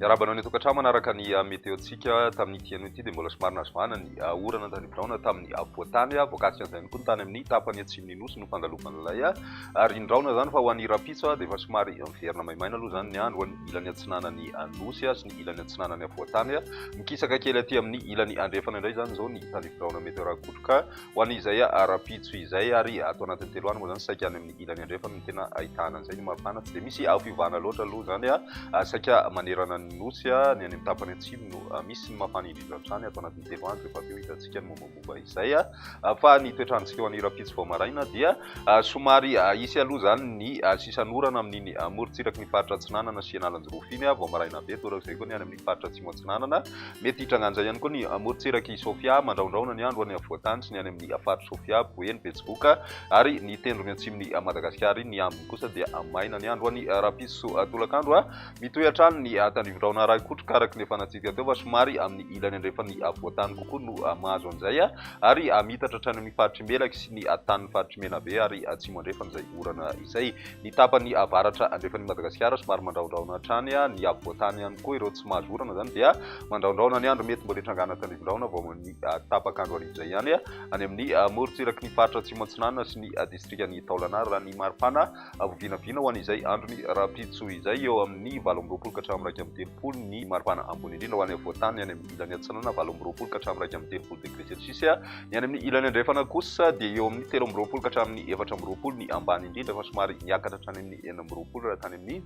Miarahaba anao ny tokantrano manaraka ny ah, meteontsika tamin'ity anio ity dia mbola somary nazovana ny ah, orana tany biraona tamin'ny apovoantany ah, voakasika an'izay koa ny tany amin'ny tapany atsimon'ny nosy no fangalovan'ilay ary ndraona izany fa ho an'ny rapitso dia efa somary miverina maimaina aloha izany ny andro ho an'ny ilany atsinanan'ny nosy ny ilany atsinanany afovoan-tany. Mikisaka kely aty amin'ny ilany andrefana indray izany izao ny tany biraona meteorakotroka ho an'izay ara-pitso izay ary ato anatin'ny telo andro moa izany saika any amin'ny ilany andrefana no tena ahitana an'izay ny mafana. Tsy dia misy fiovana loatra aloha izany saika manerana ny nosy, ny any amin'ny tapany atsimo no misy ny mafana indrindra hatrany ato anatin'ny telo andro rehefa avy eo hitantsika ny mombamomba. Fomba izay ahafahan'ny toetr'androntsika eo an'Irampitso vao maraina dia somary hisy aloha izany ny sisan'orana amin'iny morontsirak'i ny faritra Atsinanana sy Analanjirofo iny vao maraina be. Toa izay koa ny any amin'ny faritra Atsimo Atsinanana. Mety hitrangan'izay ihany koa ny morontsirak'i Sofia mandraondraona ny andro any afovoantany sy ny any amin'ny faritra Sofia, Boeny, Betsiboka ary ny tendrony atsimon'i Madagasikara iny. Ny ambiny kosa dia maina ny andro any rahampitso tolakandro. Mitohy hatrany ny tandrivon-drahona Raikotroka araka ny efa natsindika teo fa somary amin'ny ilany andrefan'ny afovoan-tany kokoa no mahazo an'izay ary miitatra hatrany amin'ny faritr'i Melaky sy ny tanin'ny faritr'i Menabe ary atsimo andrefan'izay orana izay. Ny tapany avaratra andrefan'i Madagasikara somary mandrahondrahona hatrany ny afovoan-tany ihany koa ireo tsy mahazo orana izany dia mandrahondrahona ny andro mety mbola hitrangana tandrivon-drahona vao amin'ny tapak'andro hariva izay ihany any amin'ny morontsiraky ny faritra Atsimo Atsinanana sy ny distrikan'i Taolagnaro raha ny maripana Ho vinavina ho an'izay andron'ny rahampitso izay, eo amin'ny valo amby roapolo ka hatramin'ny iraika amby telopolo, ny maripana ambony indrindra ho any afovoan-tany, any amin'ny ilany atsinanana, valo amby roapolo ka hatramin'ny iraika amby telopolo degre selsiosy, ny any amin'ny ilany andrefana kosa dia eo amin'ny telo amby roapolo ka hatramin'ny efatra amby roapolo, ny ambany indrindra fa somary miakatra hatrany amin'ny enina amby roapolo raha tany amin'ny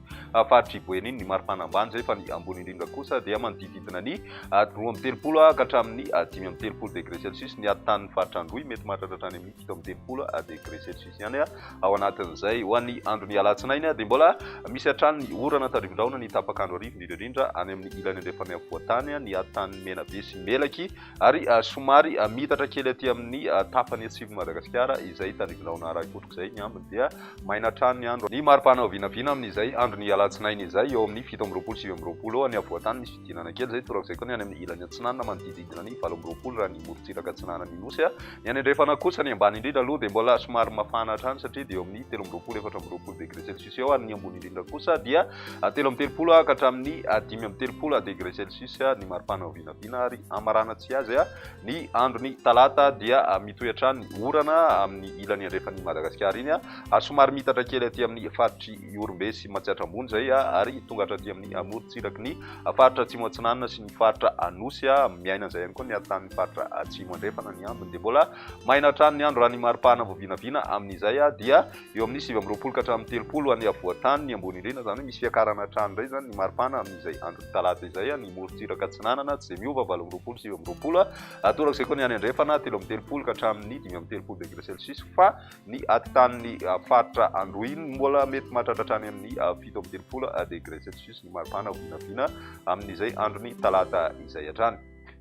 faritr'i Boeny ny maripana ambany izay, fa ny ambony indrindra kosa dia manodidididina ny roa amby telopolo ka hatramin'ny dimy amby telopolo degre selsiosy, ny atontanin'ny faritra Androy mety mahatratra hatrany amin'ny. fito amby telopolo degré celsius ihany ao anatin'izay ho an'ny andron'ny alatsinainy dia mbola misy hatrany ny orana tandrivin-drahona ny tapakandro arivo indrindra indrindra any amin'ny ilany andrefan'ny afovoan-tany ny hatan'ny menabe sy melaky ary somary mitatra kely aty amin'ny tapany atsivon'i Madagasikara izay tandrivin-drahona aray ohatr'izay ny ambiny dia maina hatrany ny andro ny maripana vinavina amin'izay andron'ny alatsinainy izay eo amin'ny fito amby roapolo sivy amby roapolo eo any afovoan-tany misy fidinana kely izay torak'izay koa ny any amin'ny ilany atsinanana manodididina ny valo amby roapolo raha ny morontsiraka atsinanan'ny nosy Ny any andrefana kosa, ny ambany indrindra aloha dia mbola somary mafana hatrany satria dia eo amin'ny telo amby roapolo, efatra amby roapolo degré celsius eo ary ny ambony indrindra kosa dia telo amby telopolo ka hatramin'ny dimy amby telopolo degré celsius ny maripana vinavina ary hamarana tsy azy ny andron'ny talata dia mitohy hatrany orana amin'ny ilany andrefan'i Madagasikara iny ary somary miitatra kely aty amin'ny faritry Ihorombe sy Matsiatra Ambony izay ary tonga hatraty amin'ny amorontsiraky ny Faritra Atsimo Atsinanana sy ny faritra Anosy a, miaina an'izay ihany koa ny haritan'ny faritra Atsimo Andrefana ny ambiny dia mbola maina hatrany ny andro raha ny mari-pahana vao vinavina amin'izay a dia eo amin'ny sivy amby roapolo ka hatramin'ny telopolo any afovoan-tany ambony indrindra izany hoe misy fiakarana hatrany indray izany ny mari-pahana amin'izay andron'ny talata izay a, ny morontsiraka atsinanana tsy dia miova valo amby roapolo sivy amby roapolo a, torak'izay koa ny any andrefana telo amby telopolo ka hatramin'ny dimy amby telopolo degré celsius fa Ny atintanin'ny faritra androhiny mbola mety mahatratra hatrany amin'ny fito amby telopolo degré celsius ny maripana ho vinavina amin'izay andron'ny talata izay hatrany.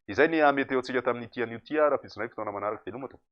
Izay ny meteontsika tamin'ity anio ity ary ampitsonay fotoana manaraka. Veloma tompoko.